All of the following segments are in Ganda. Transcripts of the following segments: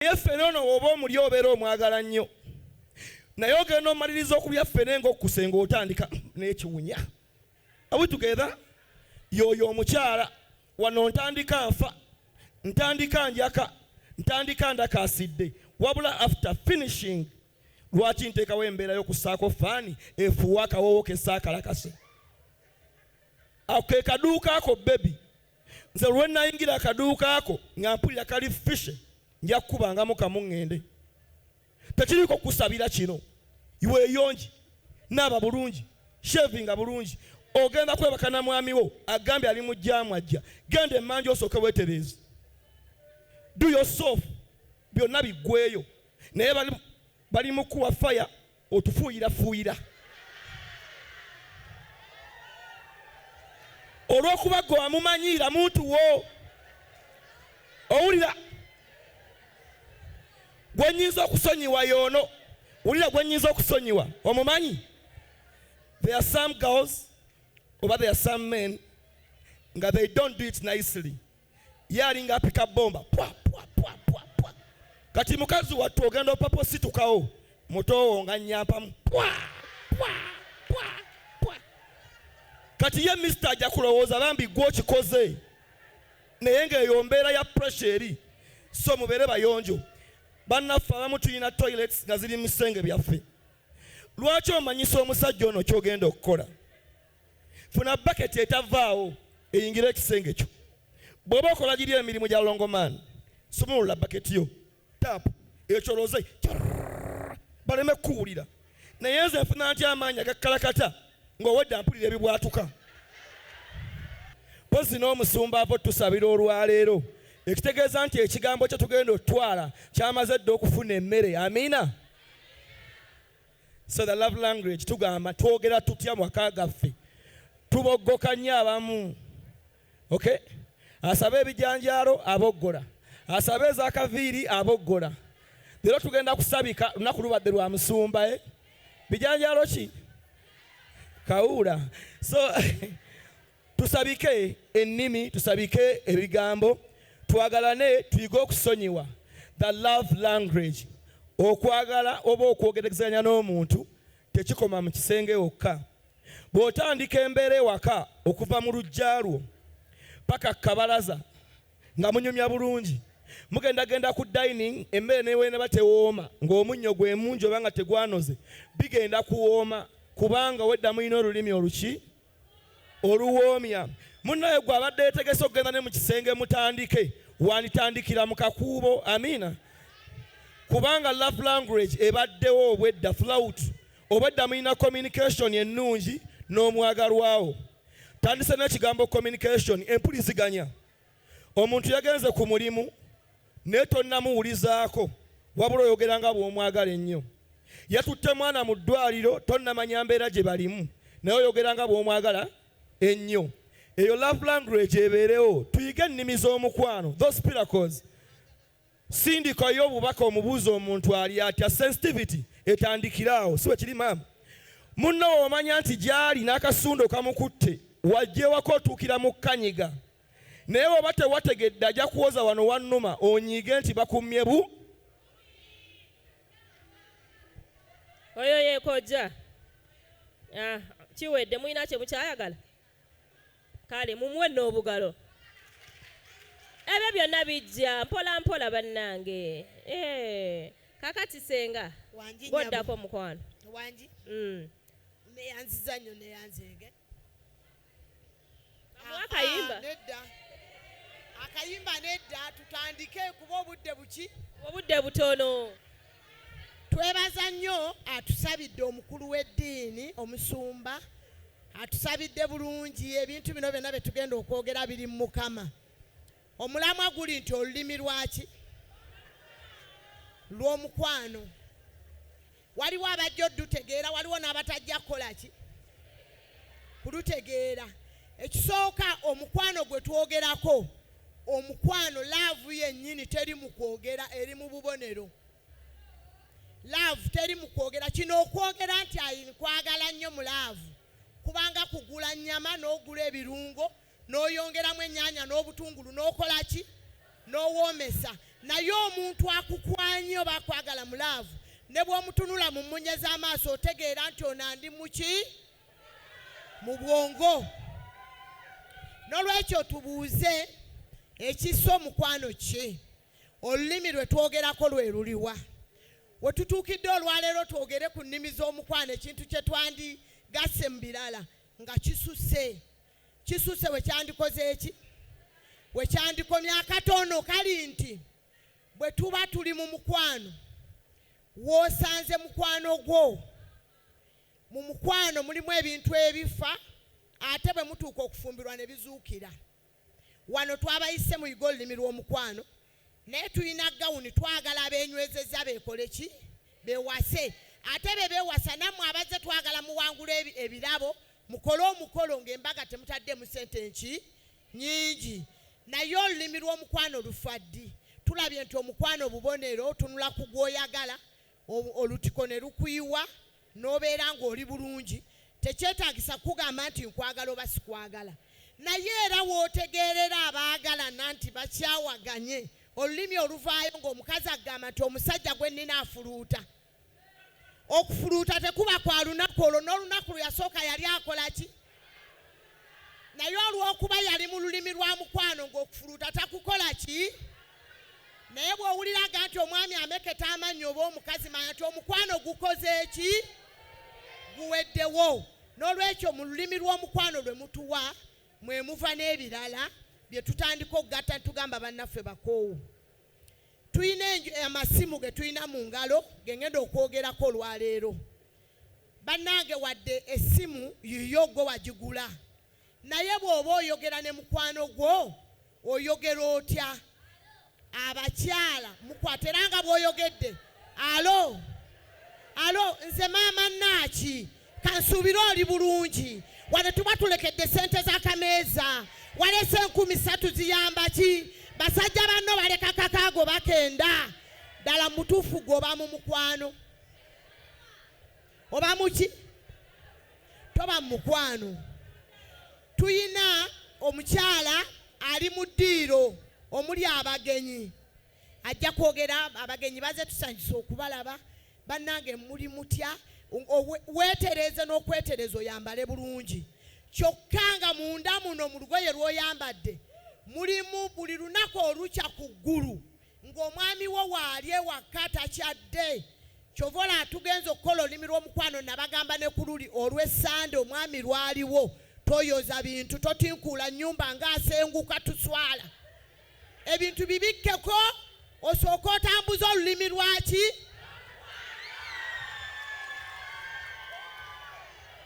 naye ffene ono woba omuli obeera omwagala nnyo naye ogenda omaliriza okulya ffene ngaokkuse ngaotandika n'ekiwunya awitugeza yoyo omukyala wano ntandika nfa ntandika njaka ntandika ndakaasidde wabula after finishing lwaki nteekawo embeera y'okussaako faani efuuwa akawoowo kessakalakase ako ke kaduuka ako bebi nze lwe nnayingira akaduuka ako nga mpulira kali fishe nja kukubangamu kamu ŋŋende tekiriiko kusabira kino weeyongi naaba bulungi shevinga bulungi ogenda kwebaka na mwami wo agambye ali mu jaamu ajja genda emmanju osooke weetereeze do yourself byonna biggweeyo naye bali mu kuwa faya otufuuyirafuuyira olw'okuba gwe wamumanyiira muntu wo owulira gwe nyinza okusonyiwa yoono wulira gwe nyinza okusonyiwa omumanyi there are some girls oba there are some men nga they don't do it nicely ye alinga apika bomba pwa pwa pwa pwa pwa kati mukazi wattu ogenda opapa ositukawo mutowo nga nyampamu pwa pwa pwa pwa kati ye mister ajja kulowooza bambi gwe okikoze naye ngaeyo mbeera ya pressure eri so mubeere bayonjo bannaffe abamu tulina toilets nga ziri mu bisenge byaffe lwaki omanyisa omusajja ono kyogenda okukola funa baketi etavaawo eyingire ekisenge kyo bwoba okola giri emirimu gya longoman sumulula baketi yo taapu ekyoloze baleme kukuwulira naye nze nfuna nti amaanyi agakkalakata ng'owedde mpulira ebibwatuka mpozi n'omusumba ava otusabira olwaleero ekitegeeza nti ekigambo kye tugenda okutwala kyamaze dda okufuna emmere amiina So the love language tugamba twogera tutya mwaka gaffe tuboggoka nnyo abamu okay asaba ebijanjaalo aboggola asaba ezakaviiri aboggola leero tugenda kusabika lunaku lubadde lwa musumba e eh? bijanjaalo ki kawuula so Tusabike ennimi, tusabike ebigambo, twagalane, tuyige okusonyiwa, the love language. Okwagala oba okwogeregezanya n'omuntu tekikoma mu kisenge wokka. Bw'otandika embeera ewaka okuva mu luggya lwo paka ku kabalaza nga munyumya bulungi, mugendagenda ku dining emmere neweneba tewooma ng'omunnyo gwe mungi oba nga tegwanoze bigenda kuwooma kubanga obwedda mulina olulimi oluki? oluwoomya munnaye gw'abadde yetegese okugenda ne mu kisenge mutandike wanditandikira mu kakuubo amiina kubanga love language ebaddewo obwedda flout obwedda mulina communication ennungi n'omwagalwawo tandise n'ekigambo communication empuliziganya Omuntu yagenze ku mulimu naye tonnamuwulizaako wabula oyogera nga bw'omwagala ennyo. Yatutte mwana mu ddwaaliro tonnamanya mbeera gye balimu naye oyogera nga bw'omwagala ennyo. Eyo love language ebeerewo, tuyige ennimi z'omukwano, those miracles. Sindika yo obubaka omubuuza omuntu ali atya, sensitivity etandikire awo, si bwe kiri maama? Munno w'omanya nti gy'ali n'akasundo kamukutte, wajja ewaka otuukira mu kkanyiga. naye bw'oba tewategedde ajja kuwoza wano wannuma onyiige nti bakummye bu oyo yeekojja ah, kiwedde mulina kye mukyayagala kale mumuwe n'obugalo ebyo byonna bijja mpola mpola bannange eh, kakati senga goddako mukwano wangi mm. neyanziza nnyo neyanzege akayimba ah, nedda akayimba nedda tutandike kuba obudde buki obudde butono twebaza nnyo atusabidde omukulu w'eddiini omusumba atusabidde bulungi ebintu bino byonna bye tugenda okwogera biri mu mukama omulamwa guli nti olulimi lwaki lw'omukwano Waliwo abajja odutegeera, waliwo n'abatajja kukola ki? Kulutegeera. Ekisooka omukwano gwe twogerako, omukwano laavu yennyini teri mu kwogera, eri mu bubonero. Laavu teri mu kwogera. Kino okwogera nti nkwagala nnyo mu laavu, kubanga kugula nnyama n'ogula ebirungo n'oyongeramu ennyaanya n'obutungulu n'okola ki n'owoomesa naye omuntu akukwanye oba akwagala mu laavu ne bw'omutunula mu mmunye z'amaaso otegeera nti ono andi muki mu bwongo n'olwekyo tubuuze ekisa omukwano ki olulimi lwe twogerako lwe luliwa we tutuukidde olwaleero twogere ku nnimi z'omukwano ekintu kye twandigasse mu birala nga kisuse Kisusse we kyandikoze eki? We kyandikomye akatono kali nti bwe tuba tuli mu mukwano w'osanze mukwano gwo mu mukwano mulimu ebintu ebifa ate bwe mutuuka okufumbirwa ne bizuukira wano twabayise mu yiga olulimi lw'omukwano naye tulina gawuni twagala abenywezezza bekole ki bewase ate bebewasa nammwe abazze twagala muwangula ebirabo mukole omukolo ngaembaga temutaddemu sente nki nyingi naye olulimi lw'omukwano lufaddi tulabye nti omukwano bubonero tunula ku gwoyagala olutiko ne lukuyiwa n'obeera ng'oli bulungi, tekyetaagisa kukugamba nti nkwagala oba sikwagala. Naye era w'otegeerera abaagalana nti bakyawaganye, olulimi oluvaayo ng'omukazi akugamba nti omusajja gwe nnina afuluuta. Okufuluuta tekuba kwa lunaku olwo, n'olunaku lwe yasooka yali akola ki? naye olw'okuba yali mu lulimi lwa mukwano ng'okufuluuta takukola ki naye bw'owuliraga nti omwami ameketa amannyi oba omukazi manya nti omukwano gukoze ki guweddewo n'olwekyo mu lulimi lw'omukwano lwe mutuwa mwe muva n'ebirala bye tutandika okugatta tugamba bannaffe bakoowu tulina amasimu ge tulina mu ngalo ge ngenda okwogerako olwaleero Banange wadde essimu yiyo gwe wagigula naye bwoba oyogera ne mukwano gwo oyogera otya abakyala mukwata era nga bwoyogedde alo alo nze maama naaki kansuubire oli bulungi wano tuba tulekedde ssente z'akameeza walese enkumi ssatu ziyamba ki basajja banno baleka kakaago bakenda ddala mutuufu gwoba mu mukwano oba muki toba mukwano tuyina omukyala ali mu ddiiro omuli abagenyi ajja kwogera abagenyi baze tusanyusa okubalaba bannange muli mutya weetereeze n'okwetereeza oyambale bulungi kyokka nga munda muno mu lugoye lw'oyambadde mulimu buli lunaku olukya ku ggulu ng'omwami wo waali ewakka takyadde kyova olaba tugenze okukola olulimi lw'omukwano nabagamba ne ku luli olw'essande omwami lwaliwo toyoza bintu totinkuula nnyumba ng'asenguka tuswala ebintu bibikkeko osooka otambuza olulimi lwaki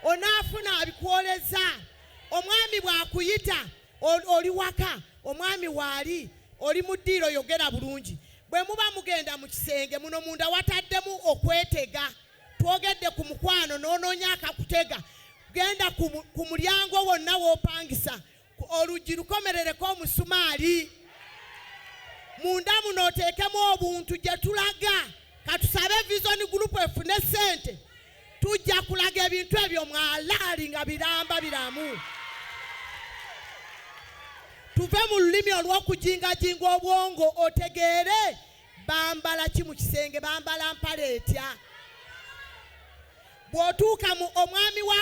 onaafuna abikwoleza omwami bw'akuyita oli waka omwami waali oli mu ddiiro yogera bulungi bwe muba mugenda mu kisenge muno munda wataddemu okwetega twogedde ku mukwano n'onoonya akakutega genda ku mulyango wonna w'opangisa oluggi lukomerereko omusumaali munda muno oteekemu obuntu gye tulaga katusabe vision group efune ssente tujja kulaga ebintu ebyo mwalaali nga biramba biramu tuve mu lulimi olw'okujingajinga obwongo otegeere bambala ki mu kisenge bambala mpala etya bw'otuuka mu omwami wa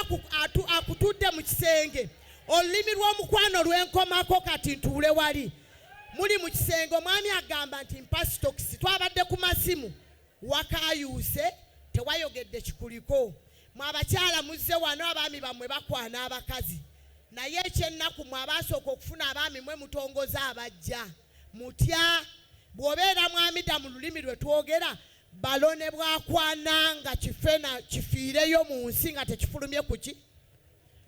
akutudde mu kisenge olulimi lw'omukwano lwenkomako kati ntuule wali muli mu kisenge omwami agamba nti mpasitokisi twabadde ku masimu Wakayuuse tewayogedde kikuliko. Mwe abakyala muzze wano abaami bammwe bakwana abakazi naye ekyennaku mwe abaasooka okufuna abaami mwe mutongoza abajja. Mutya? Bw'obeera mwami da mu lulimi lwe twogera balo ne bwakwana nga kife na kifiireyo mu nsi nga tekifulumye ku ki?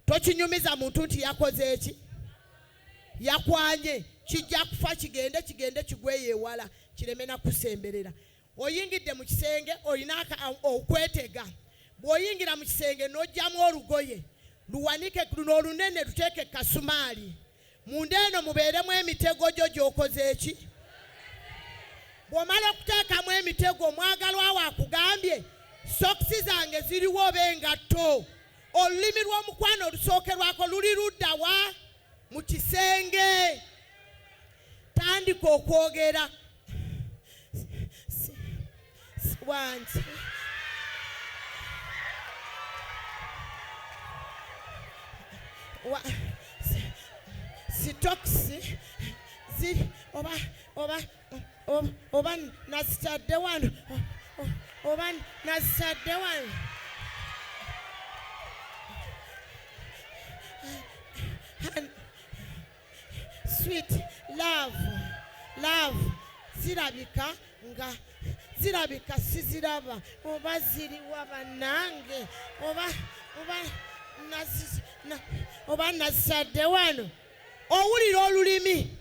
Tokinyumiza muntu nti yakoze eki? Yakwanye. Kijja kufa kigende kigende kigweyo ewala kireme na kusemberera. oyingidde mu kisenge olina okwetega bw'oyingira mu kisenge n'oggyamu olugoye luwanike luno olunene luteeke kasumaali munda eno mubeeremu emitego gyo gy'okoze eki bw'omala okuteekamu emitego omwagalwa wo akugambye sokisi zange ziriwo oba engatto olulimi lw'omukwano olusookerwako luli ludda wa mu kisenge tandika okwogera wange sitokisi ziri oba oba oba nazitadde wano oba nazitadde wano sweet love love zirabika nga zirabika siziraba oba ziriwa banange oba oba oba nazadde wano owulira olulimi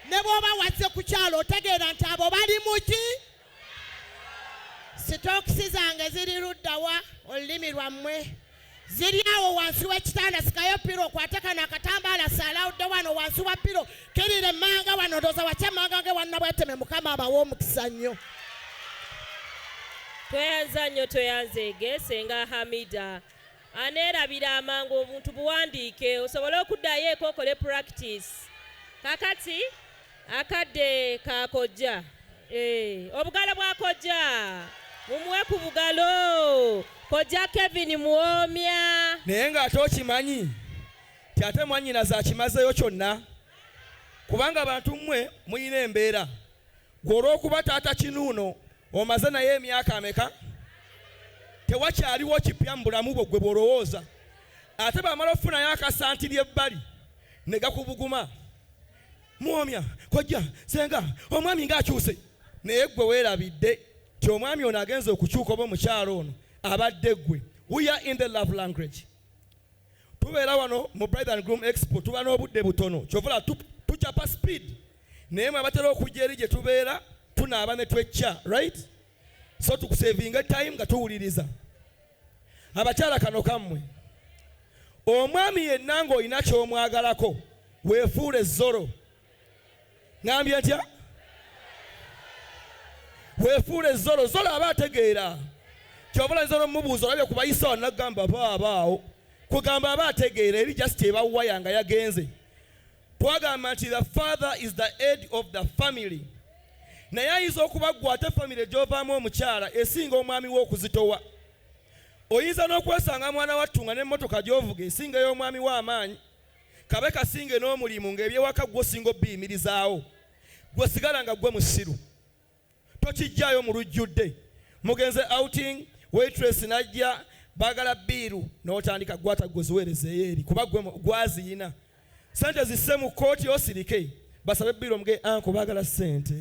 ne bwoba wazze kukyalo otegeera nti abo bali muki sitookisi zange ziri luddawa olulimi lwammwe ziri awo wansi w'ekitanda sikayo piro okwate kano akatambaala salawudde wano wansi wa piro kirire manga wano ndooza wakya manga nge wanna bweteme mukama abawa omukisa nnyo tweyanza nnyo tweyanzeege senga hamida aneerabira amangu obuntu buwandiike osobole okuddayo eko okole practice kakati Akadde ka kojja. Eh, obugalo bwa kojja. Mumuwe ku bugalo. Kojja Kevin Muwomya. Naye ng'ate okimanyi ti ate mwannyinaze akimazeeyo kyonna kubanga abantu mmwe mulina embeera gwe olw'okuba taata kinuuno omaze naye emyaka ameka tewakyaliwo kipya mu bulamu bwo gwe bw'olowooza ate bamala okufunayo akasanti ly'ebbali ne gakubuguma muwomya kojja senga omwami ng'akyuse naye ggwe weerabidde ti omwami ono agenza okukyuka oba omukyalo ono abadde ggwe we are in the love language tubeera wano mu bride and groom expo tuba n'obudde butono kyovula tucapa speed naye mwe abatera okujja eri gye tubeera tunaaba ne twecca right so tukusevinga time nga tuwuliriza abakyala kano kammwe omwami yenna ng'olina ky'omwagalako weefuule zoro ngambye ntya weefuule zoro zoro aba ategeera kyobulanyiza nomubuuza olabye kubayisa wanagamba baabaawo kugamba aba ategeera eri just ebawaya nga yagenze Twagamba nti the father is the head of the family. Naye ayinza okuba gwe ate famire gy'ovaamu omukyala esinga omwami we okuzitowa. Oyinza n'okwesanga mwana wattu nga n'emmotoka gy'ovuga esinga ey'omwami we amaanyi, kabe kasinge n'omulimu ng'eby'ewaka ggwe osinga obiyimirizaawo. Ggwe sigala nga ggwe musiru. tokijjaayo mu lujjudde mugenze outing waitress najja bagala biiru n'otandika gwata gwe ziweerezeeyo eri kuba gwe gwaziyina sente zisse mu kkooti osirike basabe biiru omuge anko bagala sente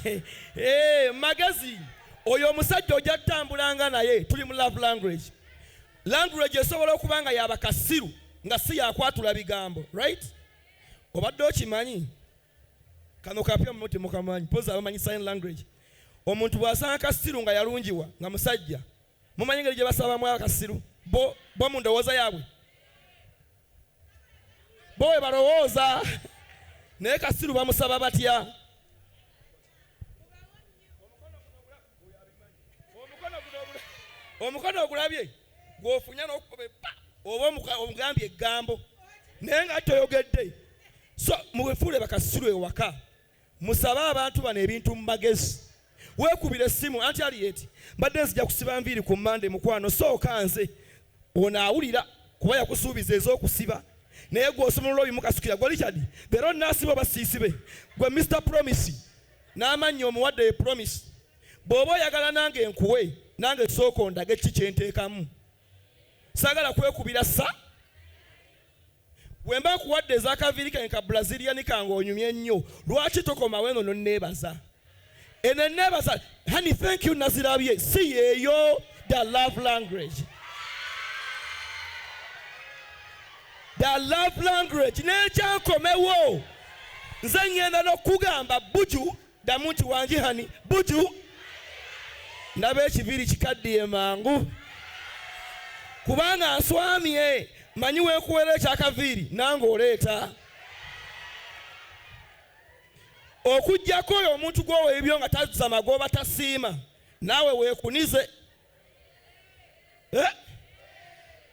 hey, eh, magezi oyo omusajja ojja tutambulanga naye tuli mu love language language esobola okuba nga yabakasiru nga si yakwatula bigambo right obadde okimanyi kano kapya mwe temukamanyi poza abamanyi sign language omuntu bwasanga kasiru nga yalungiwa nga musajja mumanyi ngeri gyebasabamu akasiru bo bo mu ndowooza yaabwe bo we balowooza naye kasiru bamusaba batya omukono ogulabye gwofunya nokukoba epa oba omugambye eggambo naye nga toyogedde so muwefuule bakasiru ewaka musabe abantu bano ebintu mu magezi weekubira essimu anti aliyeti mbadde nzija kusiba nviiri ku mande mukwano sooka nze Ono awulira kuba yakusuubiza ez'okusiba naye gw'osumulula obimukasukira gwe Richard bero naasiba oba siisibe gwe Mister Promise n'amannya omuwadde ye Promise bw'oba oyagala nange nkuwe nange sooka ondage kiki kye nteekamu saagala kwekubira sa Bwemba nkuwadde ezakaviiri kange ka Brazilian kange onyumye ennyo, lwaki tokomawo eno nonneebaza? Eno enneebaza, honey thank you nazirabye, si yeeyo the love language. The love language n'ekyankomewo nze ngenda n'okugamba buju ddamu nti wanjihani buju ndaba ekiviiri kikaddiye mangu kubanga nswamye manyi wekuweera ekyakaviiri nange oleeta okujjako oyo omuntu gwowa ebyo nga tazza magoba tasiima naawe weekunize eh?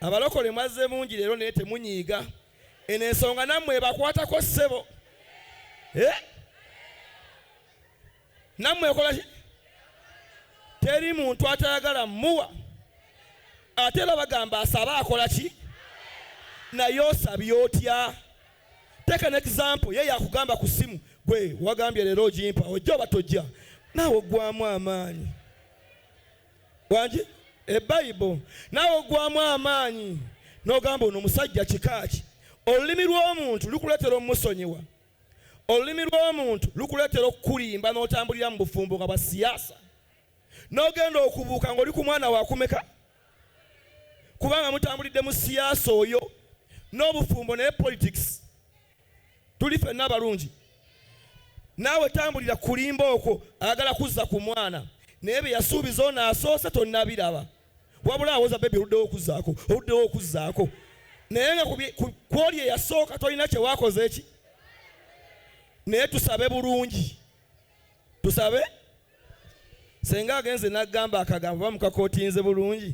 abalokole mwazze mungi leero naye temunyiiga eno ensonga nammwe ebakwatako ssebo eh? nammwe ekola ki teri muntu atayagala muwa ate era bagamba asabe akola ki naye osabye otya teeka ne example ye yakugamba ku ssimu gwe wagambye leero ogimpa ojja oba tojja naawe oggwamu amaanyi wangi ebayibo naawe ogwamu amaanyi n'ogamba ono omusajja kikaaki olulimi lw'omuntu lukuleetera omusonyiwa olulimi lw'omuntu lukuleetera okukulimba n'otambulira mu bufumbo nga bwa siyaasa n'ogenda okubuuka ng'oli ku mwana wakumeka kubanga mutambulidde mu siyaasa oyo n'obufumbo naye politics tuli fenna abalungi naawe tambulira kulimba okwo ayagala kuzza ku mwana naye bye yasuubiza ono asoose tonnabiraba wabula awoza bebi oluddewo okuzzaako oluddewo okuzzaako naye nga kwoli eyasooka tolina kyewakoze ki naye tusabe bulungi tusabe senga agenze nagamba akagambo bamukakotinze bulungi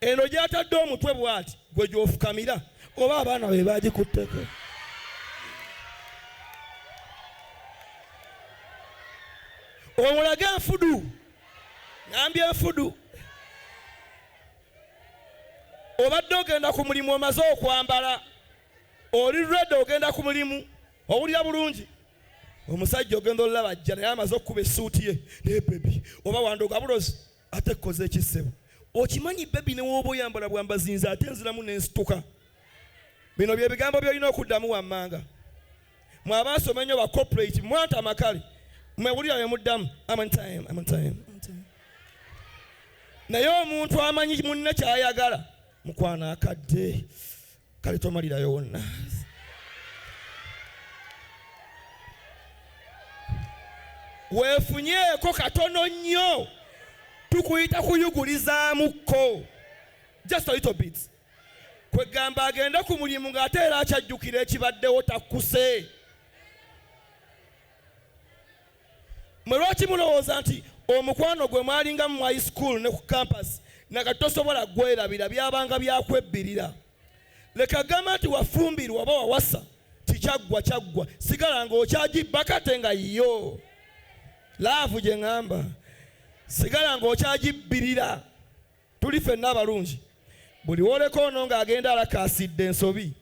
Eno gy'atadde omutwe bw'ati gwe gy'ofukamira oba abaana be baagikutteko? Omulage enfudu, ngambye enfudu. Obadde ogenda ku mulimu omaze okwambala, oli redi ogenda ku mulimu, owulira bulungi omusajja ogenda olulaba ajja naye amaze okukuba essuuti ye naye bebi oba wandoga bulozi ate koze ekisebo okimanyi bebi newooba oyambala bwambazinze ate nziramu nensituka bino byebigambo byolina okuddamu wammanga mwe abaasoma ennyo ba corporate mwanta amakale mwewulira bemuddamu naye omuntu amanyi munne kyayagala mukwano akadde kale tomalirayo wonna weefunyeeko katono nnyo tukuyita kuyugulizaamuko just a little bit kwegamba agende ku mulimu ng'ate era akyajjukira ekibaddewo takkuse Mwe lwaki mulowooza nti omukwano gwe mwalingamu mu high school ne ku campus nakati tosobola gwerabira byabanga byakwebbirira leka gamba nti wafumbirwa oba wawasa tikyaggwa kyaggwa sigala nga okyagibba kate nga yiyo laavu gye ŋamba sigala nga okyagibbirira tuli fenna abalungi buli woleka ono ng'agenda alakaasidde ensobi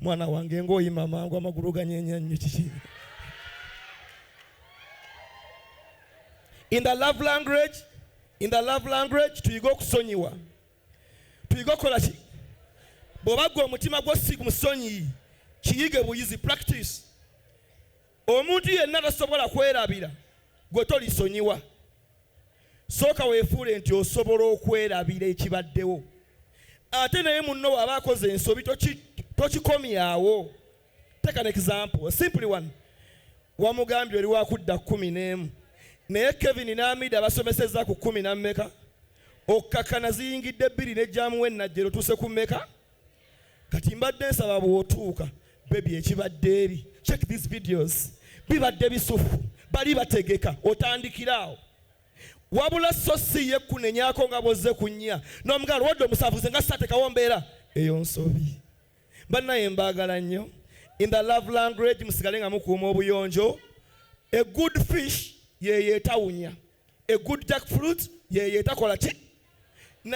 mwana wange ng'oyima amangu amagulu ganyeenya nnyo kiki in the love language in the love language tuyige okusonyiwa tuyige okukola ki bw'oba gwe omutima gwo si musonyiyi kiyige buyizi practice Omuntu yenna tasobola kwerabira gwe tolisonyiwa. Sooka weefuule nti osobola okwerabira ekibaddewo. Ate naye munno w'aba akoze ensobi tokikomyawo. Take an example, a simply one. Wamugambye oli wakudda kkumi n'emu naye Kevin n'Amida basomesezza ku kkumi na mmeka? Okkakkana ziyingidde bbiri ne jaamu w'ennajjero tuuse ku mmeka? kati mbadde nsaba bwotuuka bebi ekibadde eri check these videos bibadde bisufu bali bategeka otandikiraawo wabula so si ye kunenyako nga bwozze ku nnya n'omugaalo wadde omusavuze nga sisatekawo mbeera eyo nsobi bannaye mbaagala nnyo in the love language musigale nga mukuuma obuyonjo a good fish yeyo etawunya a good jack fruit yeyo etakola ki